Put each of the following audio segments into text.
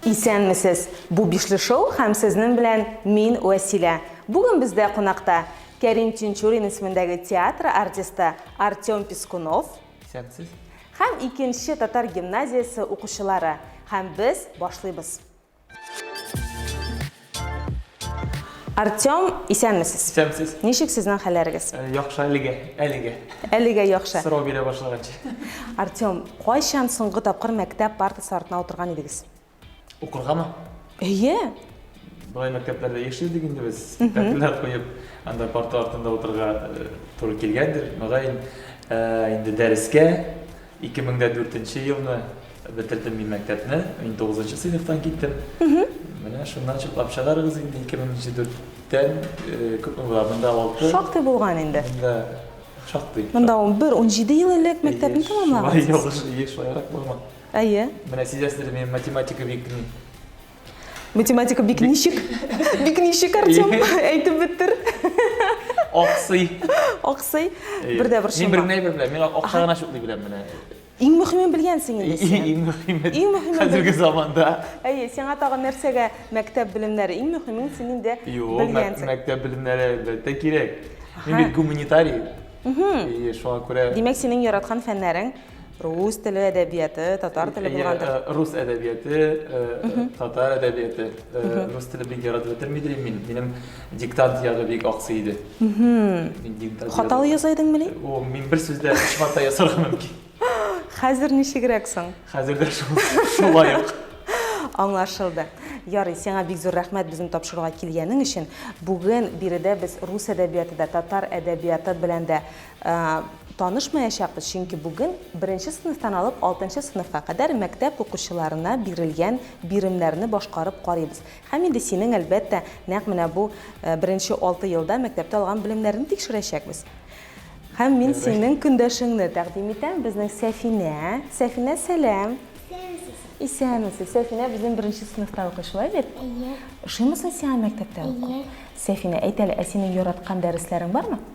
Исәнмесез! Бу бишле шоу һәм сезнең белән мин Вәсилә. Бүген бездә кунакта Кәрим Тинчурин исемендәге театр артисты Артем Пескунов. Исәнмесез! Һәм икенче татар гимназиясе укучылары. Һәм без башлыйбыз. Артем, исәнмесез. Исәнмесез. Ничек сезнең хәлләрегез? Э, яхшы әлегә, әлегә. Әлегә яхшы. Сорау бирә башлаганчы. Артем, кайчан соңгы тапкыр мәктәп партасы артына утырган идегез? Укыргамы? Әйе. Былай мәктәпләрдә еш идек инде без. Тәфсилләр куеп, анда парта артында утырга э, туры килгәндер. Мөгаен, э, инде дәрескә Ике мең дә дүртенче елны бетердем мин мәктәпне, мин тугызынчы сыйныфтан киттем. Менә шуннан чытлап чыгарыгыз инде, ике мең дә дүрттән күпме була, монда алты. Шактый булган инде. Монда шактый. Монда ун бер, ун җиде ел элек мәктәпне тәмамлагансыз. Шулай ялгыш, шулайрак булган. Әйе. Менә сизәсездер, мин математика бик Математика бик ничек? Бик ничек, Артем? Әйтеп беттер. Аксый. Аксый. Бер дә бер шума. Мин бер генә әйбер беләм. Мин акча гына шуклый беләм менә. Иң мөхимен белгәнсең инде син. Иң мөхиме. Иң мөхиме. Хәзерге заманда. Әйе, сиңа тагын нәрсәгә мәктәп белемнәре? Иң мөхимен син инде белгәнсең. Юк, мәктәп белемнәре әлбәттә кирәк. Мин бит гуманитарий. Мм. Шуңа күрә. Димәк, синең яраткан фәннәрең Рус теле әдәбияты, татар теле булгандыр. Э, рус әдәбияты, э, э, татар әдәбияты. Рус теле бик яратып бетермидер мин. Минем диктант ягы бик аксый иде. Хаталы яза идеңме ни? О, мин бер сүздә өч хата ясарга мөмкин. Хәзер ничегрәк соң? Хәзер дә шулай ук. Аңлашылды. Ярый, сиңа бик зур рәхмәт безне тапшыруга килгәнең өчен. Бүген биредә без рус әдәбияты да, татар әдәбияты белән дә Ә, танышмаячакбыз, чөнки бүген беренче сыйныфтан алып алтынчы сыйныфка кадәр мәктәп укучыларына бирелгән биремнәрне башкарып карыйбыз. Һәм инде синең, әлбәттә, нәкъ менә бу э, беренче алты елда мәктәптә алган белемнәрне тикшерәчәкбез. Һәм мин синең көндәшеңне тәкъдим итәм, безнең Сәфинә. Сәфинә, сәлам. Исәнмесез. Сәфинә безнең беренче сыйныфта укый, шулай бит? Әйе. Ошыймы соң сиңа мәктәптә уку? Әйе. Сәфинә, әйт әле, ә синең яраткан дәресләрең бармы?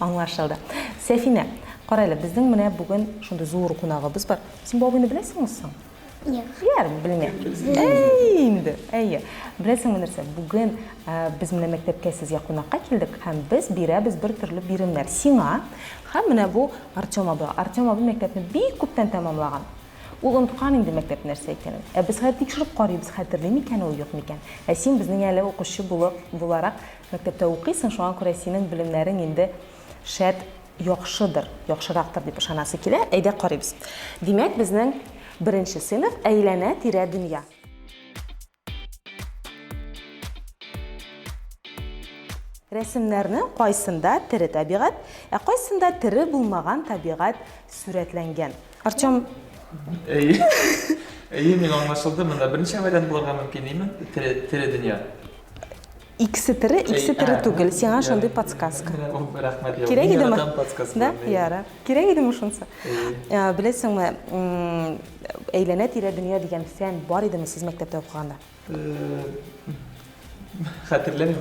Аңлашылды. Сәфинә, карале, безнең менә бүген шундый зур кунагыбыз бар. Син бу абыйны беләсеңме соң? Юк. Яр, белмә. Әй, инде. Әйе. Беләсеңме нәрсә? Бүген без менә мәктәпкә сезгә кунакка килдек һәм без бирәбез бер төрле биремнәр. Сиңа һәм менә бу Артем абыйга. Артем абый мәктәпне бик күптән тәмамлаган. Ул оныткан инде мәктәп нәрсә икәнен. Ә без хәзер тикшереп карыйбыз, хәтерли микән ул, юк микән. Ә син безнең әле укучы булып, буларак, Мәктәптә укыйсың, шуңа күрә синең белемнәрең инде шәт, яхшыдыр, яхшырактыр дип ышанасы килә. Әйдә карыйбыз. Димәк, безнең беренче сыйныф, әйләнә-тирә дөнья. Рәсемнәрнең кайсында тере табигать, ә кайсында тере булмаган табигать сурәтләнгән? Артем. Әйе. Әйе, миңа аңлашылды. Монда берничә вариант булырга мөмкин, димен. Тере, тере дөнья. Икесе тере, икесе тере түгел. Сиңа шундый подсказка. Рәхмәт, Кирәк мин идеме? яратам подсказкаларны. Да? Ярар. Кирәк идеме шунысы? Ә, Беләсеңме, м, әйләнә-тирә дөнья дигән фән бар идеме сез мәктәптә укыганда? Э, Хәтерләмим,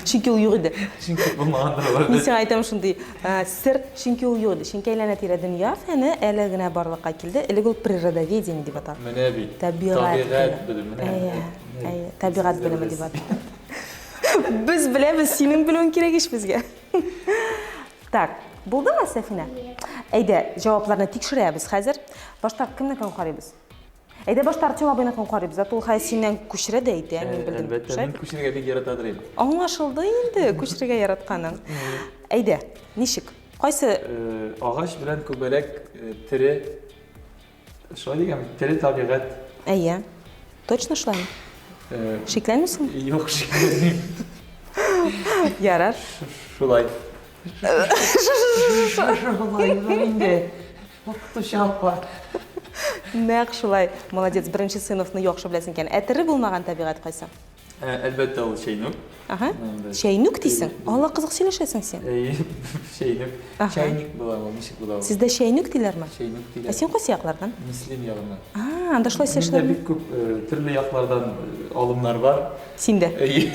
Чөнки ул юк иде. чөнки булмагандыр Мин алар. сиңа әйтәм шундый ә, сер, чөнки ул юк иде. Чөнки әйләнә-тирә дөнья фәне әле генә барлыкка килде. Элек ул природоведение дип атала. Менә бит. Табигать Табигать белем. белем. Менә. Әйе. Әйе, табигать белеме дип атыйм. Без беләбез, синең белүең кирәк ич безгә. Так, булдымы, Сәфинә? Әйдә, җавапларны тикшерәбез хәзер. Башта кемнекен карыйбыз? Әйдә башта Артем абыйныкын укып карыйбыз. Зато ул хәзер синнән күчерә дә әйтә, мин белдем. Әлбәттә, мин күчерергә бик яратадыр инде. Аңлашылды инде, күчерергә яратканың. Әйдә, ничек? Кайсы? Агач белән күбәләк тере Шулай дигән бит, тере табигать. Әйе. Точно шулаймы? Э, Шикләнмисең? Юк, шикләнмим. Ярар. Шулай. Шулай инде. Укытучы апа. Нәкъ шулай. Молодец, беренче сыйныфны яхшы беләсең икән. Ә тере булмаган табигать кайсы? Ә, Әлбәттә, ул чәйнүк. Ага. Анда. Чәйнүк дисең? Алла кызык сөйләшәсең син. Әйе, чәйнүк. Аха. Чайник була ул, ничек була ул? Сездә чәйнүк диләрме? Чәйнүк Ә диләр. син кайсы яклардан? Мөслим ягыннан. А, анда шулай Миндә сөйләшәләрме? бик күп э, төрле яклардан э, алымнар бар. Синдә. Әйе.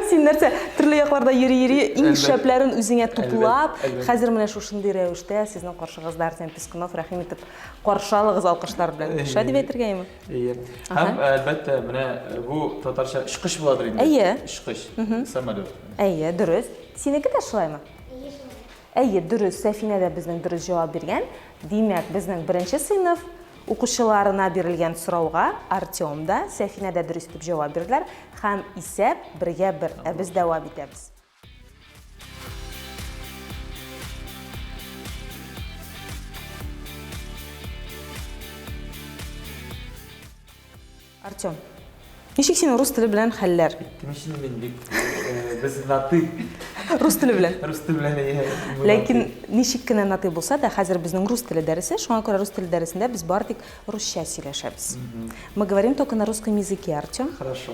Син нәрсә, төрле якларда йөри-йөри, иң Әлбәт. шәпләрен үзеңә туплап, Әлбәт, әлбәт. хәзер менә шушындый рәвештә сезнең каршыгызда Арсен Пискунов, рәхим итеп каршы алыгыз алкышлар белән. Шулай дип әйтергәме? Әйе. Һәм, әлбәттә, менә бу татарча очкыч буладыр инде. Әйе. Очкыч, самолет. Әйе, дөрес. Синеке дә шулаймы? Әйе, шулай. Әйе, дөрес. Сәфинә дә безнең дөрес җавап биргән. Димәк, безнең беренче сыйныф укучыларына бирелгән сорауга Артем да, Сәфинә дә дөрес итеп җавап бирделәр һәм исәп бергә бер. Ә без дәвам итәбез. Артем, ничек син рус теле белән хәлләр? Кемешін мен бик, э, біз наты. Рус теле белән? Рус теле белән, иә. Ләкин ничек кенә наты булса да, хәзер безнең рус теле дәресе, шуңа күрә рус теле дәресендә без бар тик русча сөйләшәбез. Мы говорим только на русском языке, Артем. Хорошо.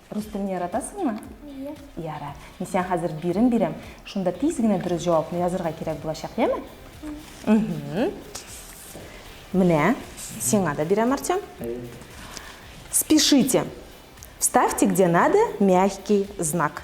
Рус телен яратасыңмы? Әйе. Ярар. Мин сиңа хәзер бирем бирәм. Шунда тиз генә дөрес җавапны язырга кирәк булачак, яме? Мм. Менә, сиңа да бирәм, Артем. Спешите. Ставьте где надо мягкий знак.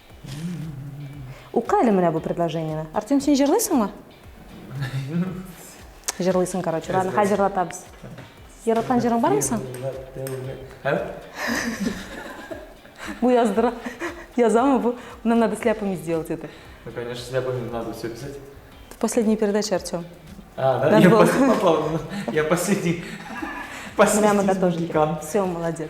Укы әле менә бу предложениене. Артем, син җырлыйсыңмы? Җырлыйсың, короче. Ладно, хәзер җырлатабыз. Яраткан җырың бармы соң? Бу яздыра. Язамы бу? Нам надо сляпами сделать это. Ну, конечно, сляпами надо все писать. Последняя передача, Артем. А, да? Я, пос... я последний. Последний. Прямо готовлю. Все, молодец.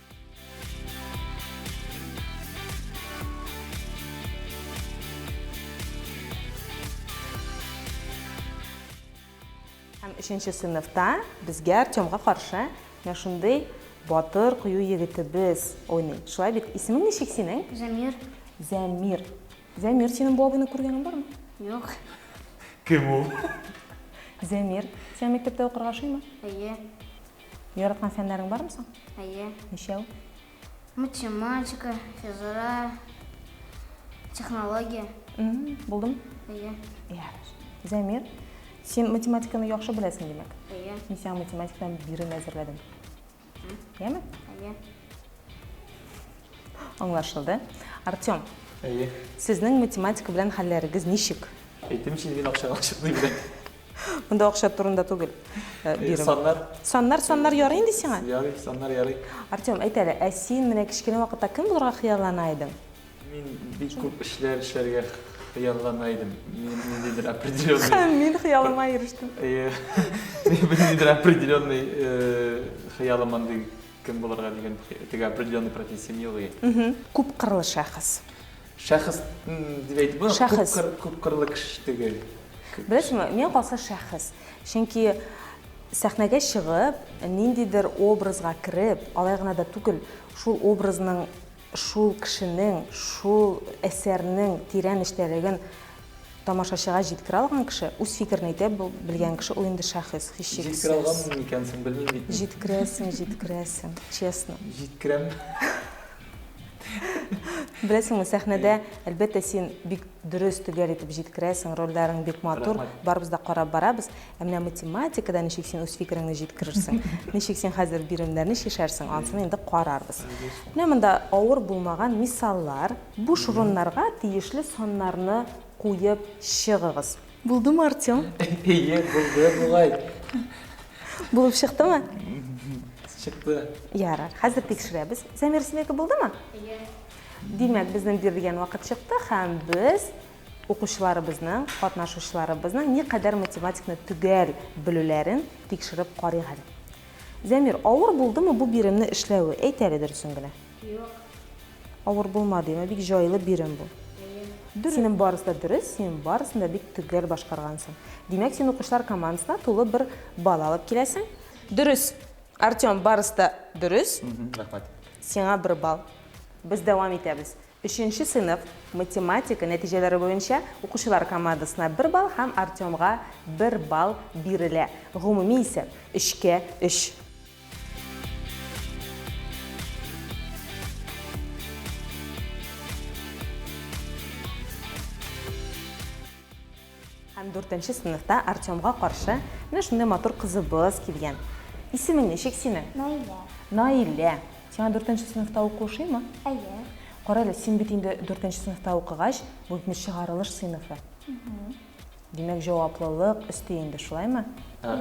Һәм өченче сыйныфта безгә Артемга каршы менә шундый батыр кую егетебез уйный. Шулай бит, исемең ничек синең? Замир. Замир. Замир, синең бу абыйны күргәнең бармы? Юк. Кем ул? Замир, сиңа мәктәптә укырга ошыймы? Әйе. Яраткан фәннәрең бармы соң? Әйе. Ничәү? Математика, физра, технология. Булдым? Әйе. Ярыш. Зәмир, син математиканы яхшы беләсең, димәк? Әйе. Мин сиңа математикадан бирем әзерләдем. Яме? Әйе. Аңлашылды. Артем. Әйе. Сезнең математика белән хәлләрегез ничек? Әйтемче, мин акчага ашыкмыйм. Монда акча турында түгел. Э, э, саннар. Саннар, саннар ярый инде сиңа? Ярый, саннар ярый. Артем, әйт әле, ә син менә кечкенә вакытта кем булырга хыяллана идең? Мин бик күп эшләр эшләргә хыяллана идем. Ниндидер определенный... Мин хыялыма ирештем. Э, ниндидер определенный хыялым андый кем булырга дигән теге определенный профессия юк. Күп кырлы шәхес. Шәхес дип әйтеп була, шәхес. Күп, кыр, күп кырлы кеше түгел. Беләсеңме, миңа калса шәхес. Чөнки сәхнәгә чыгып, ниндидер образга кереп, алай гына да түгел, шул образның, шул кешенең, шул әсәрнең тирән эчтәлеген тамашачыга җиткерә алган кеше, үз фикерен әйтә белгән кеше ул инде шәхес, һичшиксез. Җиткерә алганмын микән соң, белмим бит. Җиткерәсең, җиткерәсең, честно. Җиткерәм. Беләсеңме, сәхнәдә, әлбәттә, син бик дөрес, төгәл итеп җиткерәсең, рольләрен бик матур, барыбыз да карап барабыз. Ә менә математикада ничек син үз фикереңне җиткерерсең, ничек син хәзер биремнәрне чишәрсең, ансын инде карарбыз. Менә монда авыр булмаган мисаллар. Буш урыннарга тиешле саннарны куеп чыгыгыз. Булдымы, Артем? Әйе, булды бугай. Булып чыктымы? Чыкты. Ярар, хәзер тикшерәбез. Замир, синеке булдымы? Әйе. Димәк, безнең бирелгән вакыт чыкты һәм без укучыларыбызның, катнашучыларыбызның ни кадәр математикны төгәл белүләрен тикшереп карыйк әле. Замир, авыр булдымы бу биремне эшләве? Әйт әле дөресен генә. Юк. Авыр булмады, ә бик җайлы бирем бу. Дөрес. Синең барысы да дөрес, син барысын да бик төгәл башкаргансың. Димәк, син укучылар командасына тулы бер балл алып киләсең. Дөрес. Артем, барысы да дөрес. Рәхмәт. Сиңа бер балл. Без дәвам итәбез. Өченче сыйныф математика нәтиҗәләре буенча укучылар командасына бер балл һәм Артемга бер балл бирелә. Гомуми исәп, өчкә өч. Һәм дүртенче сыныфта Артемга каршы менә шундый матур кызыбыз килгән. Исемең ничек синең? Наилә. Наилә. Сиңа дүртенче сыныфта уку ошыймы? Әйе. Кара әле, син бит инде дүртенче сыныфта укыгач, бу бит чыгарылыш сыйныфы. Димәк, җаваплылык өсти инде, шулаймы? Ә,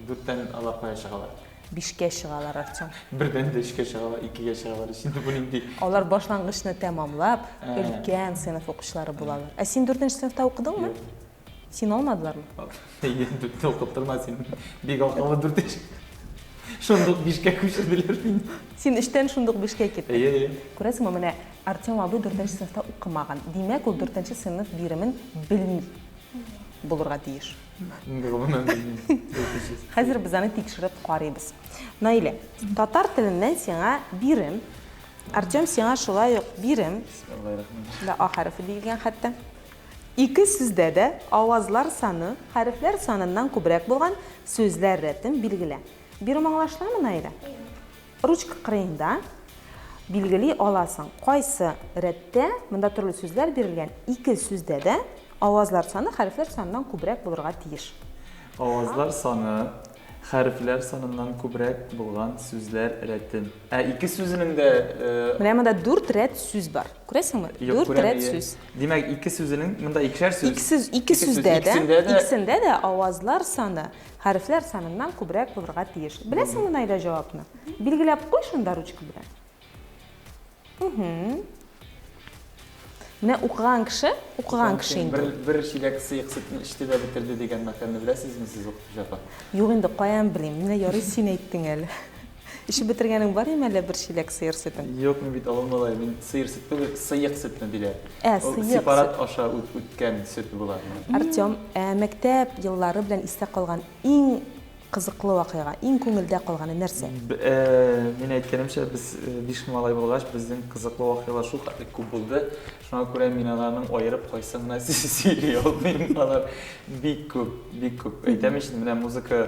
дүрттән алар кая чыгалар? Бишкә чыгалар, Артем. Бердән дә өчкә чыгалар, икегә чыгалар. Синде бу нинди? Алар башлангычны тәмамлап, Ә. өлкән сыйныф укучылары булалар. Ә син дүртенче сыйныфта укыдыңмы? Юк. Син алмадылармы? Әйе, дүрттә укып тормас син. Бик акыллы дүртенче. Шундук бишкә күчерделәр мине. Син өчтән шундук бишкә киттең. Әйе, әйе. Күрәсеңме, менә Артем абый дүртенче сыйныфта укымаган, димәк, ул дүртенче сыйныф биремен белми булырга тиеш. Гомумән белмим. Хәзер без аны тикшереп карыйбыз. Наилә, татар теленнән сиңа бирем. Артем сиңа шулай ук бирем. Аллай рәхмәт. Да а хәрефе диелгән хәтта. Ике сүздә дә авазлар саны хәрефләр саныннан күбрәк булган сүзләр рәтен билгелә. Бирем аңлашламы, Наилә? Ручка кырыенда билгели аласың, кайсы рәттә, монда төрле сүзләр бирелгән, ике сүздә дә авазлар саны хәрефләр саныннан күбрәк булырга тиеш. Авазлар саны хәрефләр саныннан күбрәк булган сүзләр рәтен. Ә ике сүзенең дә... Менә монда дүрт рәт сүз бар. Күрәсеңме? Дүрт рәт сүз. Димәк, ике сүзенең, монда икешәр сүз. Ике сүздә дә, икесендә дә авазлар саны. Хәрефләр саныннан күбрәк булырга тиеш. Беләсеңме, Наилә, җавапны? Билгеләп куй шунда ручка белән. Угу. Менә укыган кеше, укыган кеше инде. Бер, бер чиләк сыек сөтне эчте дә бетерде дигән мәкальне беләсезме сез укытучы апа? Юк инде, каян белим. Менә ярый син әйттең әле. Эчеп бетергәнең бар име әллә бер чиләк сыер сөтен? Юк, мин бит авыл малае, мин сыер сөт түгел, сыек сөтне диләр. Ә, сыек сөт. Сепарат аша үткән сөт була. Артем, ә мәктәп еллары белән истә калган иң кызыклы вакыйга, иң күңелдә калганы нәрсә? Мин әйткәнемчә, без биш малай булгач, безнең кызыклы вакыйгалар шул хәтле күп булды. Шуңа күрә мин аларның аерып кайсын гына сөйли алмыйм. Алар бик күп, бик күп. Әйтәм ич, менә музыка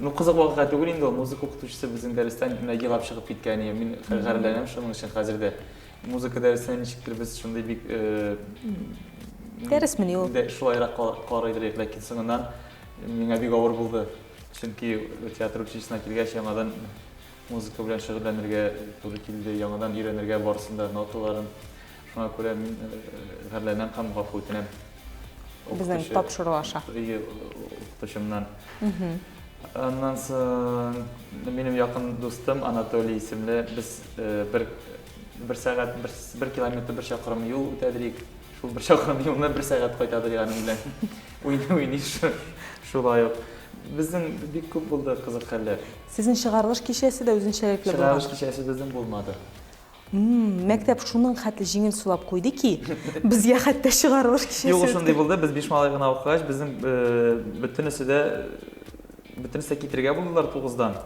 Ну, кызык вакыйга түгел инде ул. Музыка укытучысы безнең дәрестән нәги елап чыгып киткән иде. Мин гарьләнәм шуның өчен хәзер дә. Музыка дәресенә ничектер без шундый бик э, Дәресмени ул? Шулайрак кар идек, ләкин соңыннан миңа бик авыр булды. Чөнки театр училищесына килгәч, яңадан музыка белән шөгыльләнергә туры килде, яңадан өйрәнергә барысын да ноталарын. Шуңа күрә мин гарьләнәм һәм гафу үтенәм. Безнең тапшыру аша. Ие, укытучымнан. Аннан соң минем якын дустым Анатолий исемле без бер бер сәгать бер, бер километр бер чакрым юл үтәдерик. Шул бер чакрым юлны бер сәгать кайтадырик аның белән. Уйный уйный шулай ук. Безнең бик күп булды кызык хәлләр. Сезнең чыгарылыш кичәсе дә үзенчәлекле булган. Чыгарылыш кичәсе безнең булмады. Мәктәп шуның хәтле җиңел сулап куйды ки, безгә хәтта чыгарылыш кичәсе үтте. Юк, ул шундый булды, без биш малай гына укыгач, безнең бөтенесе дә, бөтенесе дә китергә булдылар тугыздан.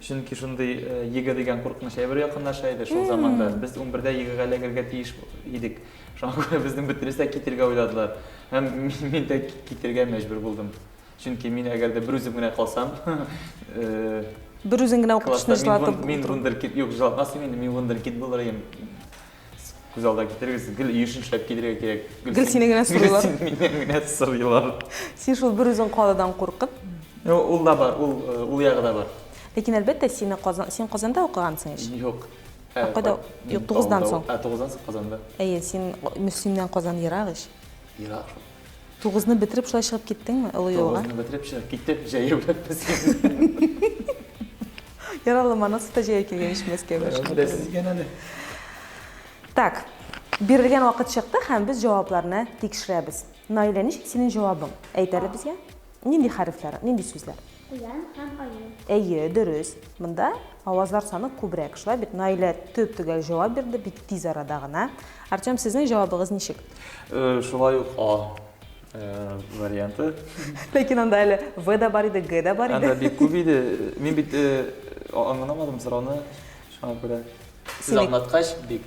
Чөнки шундый ЕГЭ дигән куркыныч әйбер якынлаша иде шул заманда. Без унбердә ЕГЭга эләгергә тиеш идек. Шуңа күрә безнең бөтенесе дә китергә уйладылар. Һәм мин дә китергә мәҗбүр булдым. Чөнки мин әгәр дә берүзем генә калсам, берүзең генә укып кешене җылатып мин вундеркид юк җылатмасын инде мин вундеркид булыр идем күз алдына китерегез гел еш эшләп китерергә кирәк гел сине генә сорыйлар гел миннән генә сорыйлар син шул берүзең калудан куркып ул да бар ул э, ул ягы да бар ләкин әлбәттә сине казан син казанда укыгансың ич юк э, кайда юк тугыздан соң ә тугыздан соң казанда әйе син мөслимнән казан ерак ич ерак Тугызны бетереп шулай чыгып киттеңме олы юлга? Тугызны бетереп чыгып киттем, җәяү белән Мәскәүгә. Яралла манасы да җәяү килгән ич Мәскәүгә. Беләсез икән әле. Так, бирелгән вакыт чыкты һәм без җавапларны тикшерәбез. Наилә, ничек синең җавабың? Әйт әле безгә. Нинди хәрефләр, нинди сүзләр? Куян һәм аю. Әйе, дөрес. Монда авазлар саны күбрәк. Шулай бит, Наилә төп-төгәл җавап бирде, бик тиз арада гына. Артем, сезнең җавабыгыз ничек? Шулай ук А варианты. Ләкин анда әле В да бар иде, Г да бар иде. Анда бик күп иде. Мин бит аңламадым сорауны, шуңа күрә. Сез аңлаткач, бик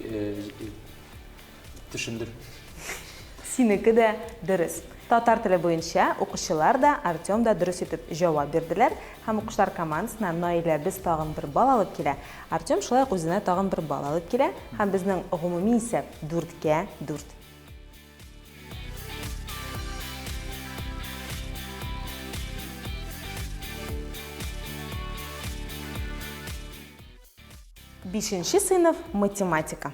Төшендем. Синеке дә дөрес. Татар теле буенча укучылар да, Артем да дөрес итеп җавап бирделәр. Һәм укучылар командасына Наиләбез тагын бер балл алып килә. Артем шулай ук үзенә тагын бер балл алып килә. Һәм безнең гомуми исәп, дүрткә дүрт. Бишенче сыйныф, математика.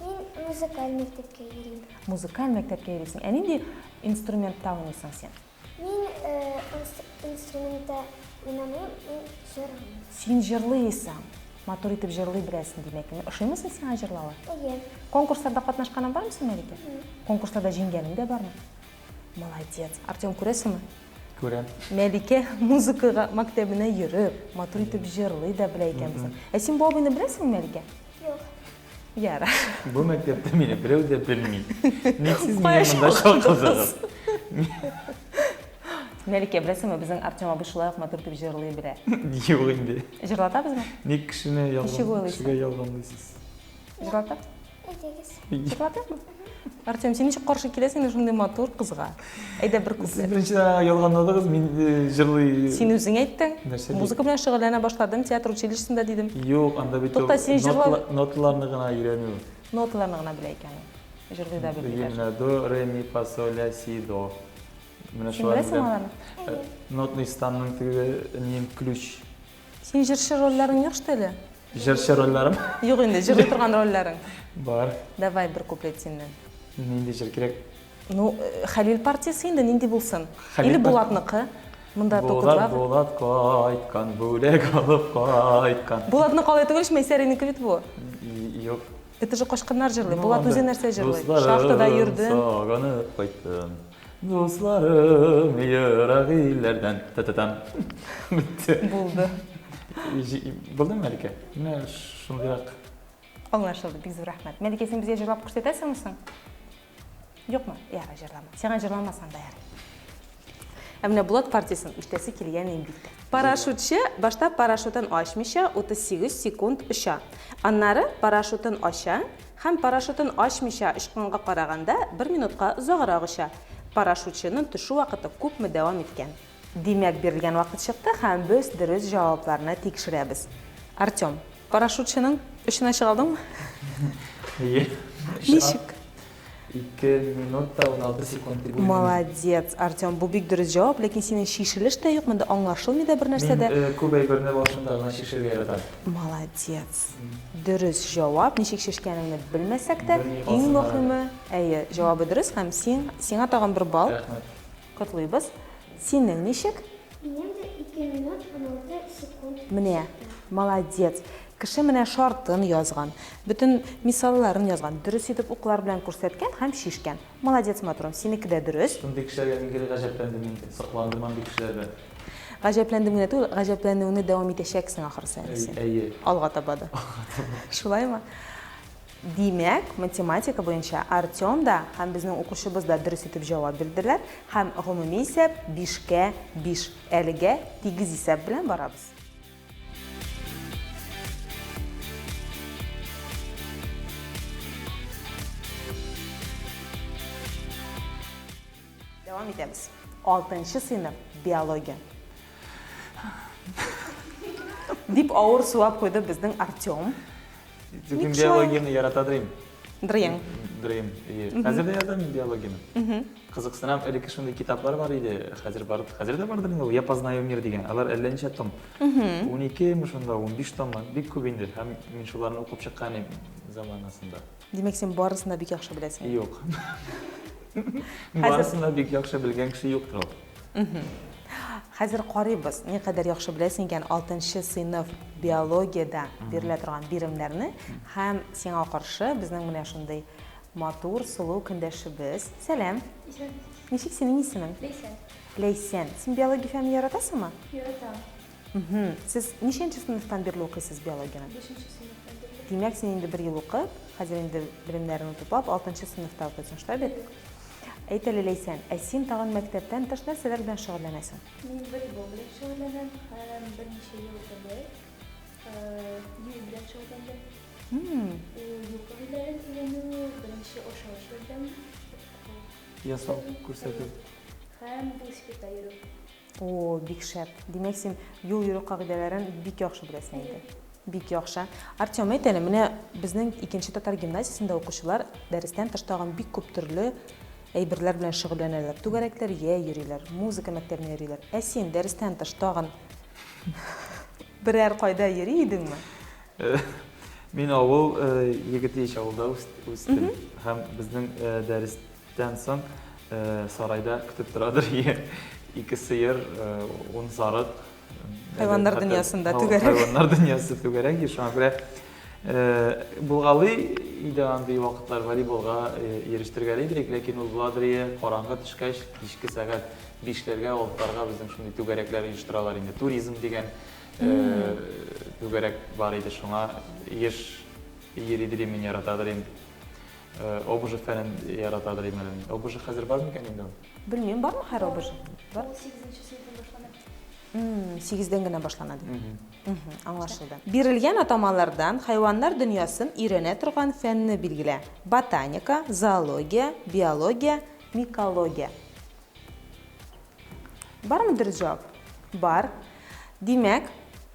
Мин музыкаль мәктәпкә йөрим. Музыкаль мәктәпкә йөрисең. Ә нинди инструментта уйныйсың син? Мин инструментта уйнамыйм, мин җырлыйм. Син җырлыйсың. Матур итеп җырлый беләсең, димәк. Ошыймы син сиңа җырлавы? Әйе. Конкурсларда катнашканың бармы син, Мәликә? Конкурсларда җиңгәнең дә бармы? Молодец. Артем, күрәсеңме? Күрәм. Мәликә музыкага мәктәбенә йөреп, матур итеп җырлый да белә икән. Ә син бу абыйны беләсеңме, Мәликә? Юк. Ярар. Бу мәктәптә мине берәү дә белми. Ник сез мине монда чакырдыгыз? Мәликә, беләсеңме, безнең Артем абый шулай ук матур итеп җырлый белә. Юк инде. Җырлатабызмы? Ник кешене ялган, кешегә ялганлыйсыз? Җырлатабыз? Җырлатабызмы? Артем, син ничек каршы киләсең инде шундый матур кызга? Әйдә бер Сез күплек. беренчедән аңа ялганладыгыз, мин э, җырлый... Син үзең әйттең. Нәрсә ди? Музыка белән шөгыльләнә башладым, театр училищесында дидем. Юк, анда бит Тукта, ул син җырла- нотала- ноталарны гына өйрәнү. Ноталарны гына белә икән ул. Җырлый да белми Белгән даже. менә до, ре, ми, фа, соль, ля, си, до. Менә Син шуларны беләсеңме беләм. аларны? Э, Нотный станның теге нин ключ. Син җырчы рольләрен юк что ли? Җырчы рольләрем? Юк инде, җырлый торган рольләрең. Бар. Давай бер куплет синнән. Нинди җыр кирәк? Ну, э, Хәлил партиясе инде нинди булсын? Хәлил Или Булатныкы? Монда Булат, Булат кайткан, бүләк алып кайткан. Булатны калай түгел, Мәйсәринеке бит бу. Юк. Это же качканнар җырлый. Ну, Булат үзе нәрсә җырлый? Шахтада йөрдем. Сагынып кайттым. Дусларым ерак илләрдән. Та-та-там. Бетте. Булды. Булдымы, Мәликә? Менә шундыйрак. Аңлашылды, бик зур рәхмәт. Мәликә, син безгә җырлап күрсәтәсеңме соң? Юкмы? Ярый, җырлама. Сиңа җырламасам да ярый. Ә менә Булат партиясен ишетәсе килгән инде. Парашютчы башта парашютын ачмыйча 38 секунд оча. Аннары парашютын ача, Һәм парашютын ачмыйча очканга караганда бер минутка озаграк оча. Парашютчының төшү вакыты күпме дәвам иткән? Димәк, бирелгән вакыт чыкты һәм без дөрес җавапларны тикшерәбез. Артем, парашютчының очына чыга алдыңмы? Әйе, чыга. Ничек? Ике минут та уналты секунд дип уйлыйм. Молодец, Артем, бу бик дөрес җавап, ләкин синең чишелеш тә юк монда, аңлашылмый да бер нәрсә дә. Мин күп әйберне башында гына чишергә яратам. Молодец. Дөрес җавап, ничек чишкәнеңне белмәсәк тә, иң мөхиме, әйе, җавабы дөрес һәм син, сиңа тагын бер балл. Рәхмәт. Котлыйбыз. Синең ничек? Минем дә ике минут уналты секунд чыкты. Менә, молодец! Кеше менә шартын язган, бөтен мисалларын язган, дөрес итеп уклар белән күрсәткән һәм чишкән. Молодец, матурым, синеке дә дөрес. Шундый кешеләргә мин гел гаҗәпләндем инде, сокландым андый кешеләрдән. Гаҗәпләндем генә түгел, гаҗәпләнүеңне дәвам итәчәксең, ахрысы, әнисе. Әйе. Алга таба да. Алга таба. Шулаймы? Димәк, математика буенча Артем да һәм безнең укучыбыз да дөрес итеп җавап бирделәр һәм гомуми исәп бишкә биш. Әлегә тигез исәп белән барабыз. Дәвам итәбез. Алтынчы сыйныф, биология. Дип авыр сулап куйды безнең Артем. Мин биологияне ярата дырыйм. Дырыйм. Дырыйм. Хәзер дә язам мин биологияне. Кызыксынам, элекке шундый китаплар бар иде, хәзер бар, хәзер дә бардыр инде ул Я познаю мир дигән. Алар әллә ничә том. 12 ми шунда, 15 том, бик күп инде. Һәм мин шуларны укып чыккан идем заманасында. Димәк, син барысын да бик яхшы беләсең. Юк. Барысын да бик яхшы белгән кеше юктыр ул. Хәзер карыйбыз, никадәр яхшы беләсең икән алтынчы сыйныф биологиядә бирелә торган биремнәрне һәм сиңа каршы безнең менә шундый матур, сылу көндәшебез. Сәлам. Исән. Ничек синең исемең? Ләйсән. Ләйсән, син биология фәнен яратасыңмы? Яратам. Мхм. Сез ничәнче сыйныфтан бирле укыйсыз биологияне? Бишенче сыйныфтан бирле. Димәк, син инде бер ел укып, хәзер инде белемнәреңне туплап, алтынчы сыйныфта укыйсың, шулай бит? Әйт әле, Ләйсән, ә син тагын мәктәптән тыш нәрсәләр белән шөгыльләнәсең? Мин волейбол белән шөгыльләнәм һәм берничә ел элек бию белән шөгыльләндем. Мм. Юл кагыйдәләрен өйрәнү, беренче ашыгыч ярдәм ясау күрсәтү һәм велосипедта йөрү. Оо, бик шәп! Димәк, син юл йөрү кагыйдәләрен бик яхшы беләсең инде. Бик яхшы. Артем, әйт әле, менә безнең икенче татар гимназиясендә укучылар дәрестән тыш тагын бик күп төрле әйберләр белән шөгыльләнәләр. Түгәрәкләр йә йөриләр, музыка мәктәбенә йөриләр. Ә син дәрестән тыш тагын берәр кайда йөри идеңме? Мин авыл егете ич, авылда үстем. Һәм безнең дәрес Тән соң сарайда көтеп торадыр ие. Ике сыер, ун сарык. Хайваннар дөньясында түгәрәк. Хайваннар дөньясы түгәрәк ие. Шуңа күрә булгалый иде андый вакытлар, волейболга йөрештергәли иде бит, ләкин ул буладыр ие, караңгы төшкәч, кичке сәгать бишләргә, алтыларга безнең шундый түгәрәкләр оештыралар инде. Туризм дигән түгәрәк бар иде, шуңа еш йөри дидем мин, яратадыр идем. Обжы фәнен яратадыр имәнен. Обжы хәзер бар микән инде ул? Белмим, бар ма хәзер обжы? Бар. 8-нче сыйфадан башлана. Мм, 8-дән генә башлана ди. Мм, аңлашылды. Бирелгән атамалардан хайваннар дөньясын өйрәнә торган фәнне билгелә. Ботаника, зоология, биология, микология. Бармы дөрес җавап? Бар. Димәк,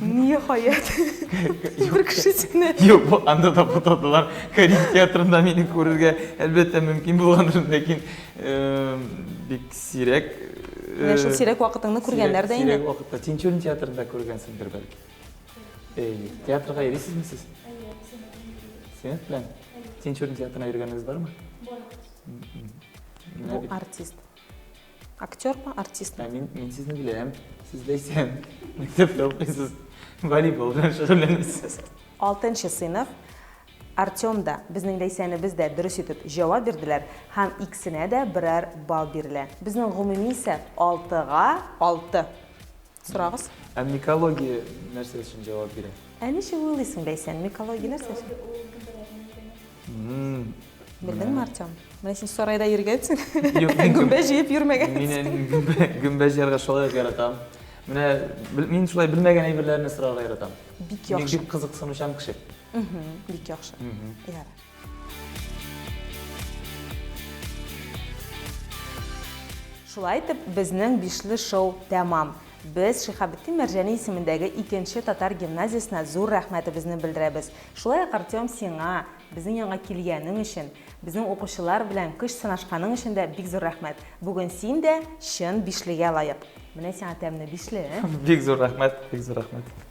Ниһаять. Бер кеше сине. Юк, бу анда да бутадылар. Карим театрында мине күрергә әлбәттә мөмкин булгандыр, ләкин э, бик сирәк. Э, Менә шул сирәк вакытыңны күргәннәр дә инде. Сирәк вакытта Тинчурин театрында күргәнсеңдер бәлки. Э, театрга йөрисезме сез? Әйе, синет белән. Тинчурин театрына йөргәнегез бармы? Бар. Бу артист. Актер ма, артист ма? Мин, мин сезне беләм. Сез ләйсән. Мәктәптә укыйсыз. Волейбол белән шөгыльләнәсез. Алтынчы сыйныф. Артем да, безнең Ләйсәнебез дә дөрес итеп җавап бирделәр һәм икесенә дә берәр балл бирелә. Безнең гомуми исәп, алтыга алты. Сорагыз. Ә микология нәрсә өчен җавап бирә? Ә ничек уйлыйсың, Бәйсән, микология нәрсә өчен? Белдеңме, Артем? Менә син сарайда йөргәнсең. Гөмбә җыеп йөрмәгәнсең. Мин әни гөмбә җыярга шулай ук яратам. Менә мин шулай белмәгән әйберләрне сорарга яратам. Бик яхшы. Мин бик кызыксынучан кеше. Бик яхшы. Ярар. Шулай итеп, безнең бишле шоу тәмам. Без Шихабеттин Мәрҗәни исемендәге икенче татар гимназиясенә зур рәхмәтебезне белдерәбез. Шулай ук, Артем, сиңа, безнең янга килгәнең өчен, безнең укучылар белән көч сынашканың өчен дә бик зур рәхмәт. Бүген син дә чын бишлегә лаек. Менә сиңа тәмле бишле. Бик зур рәхмәт, бик зур рәхмәт.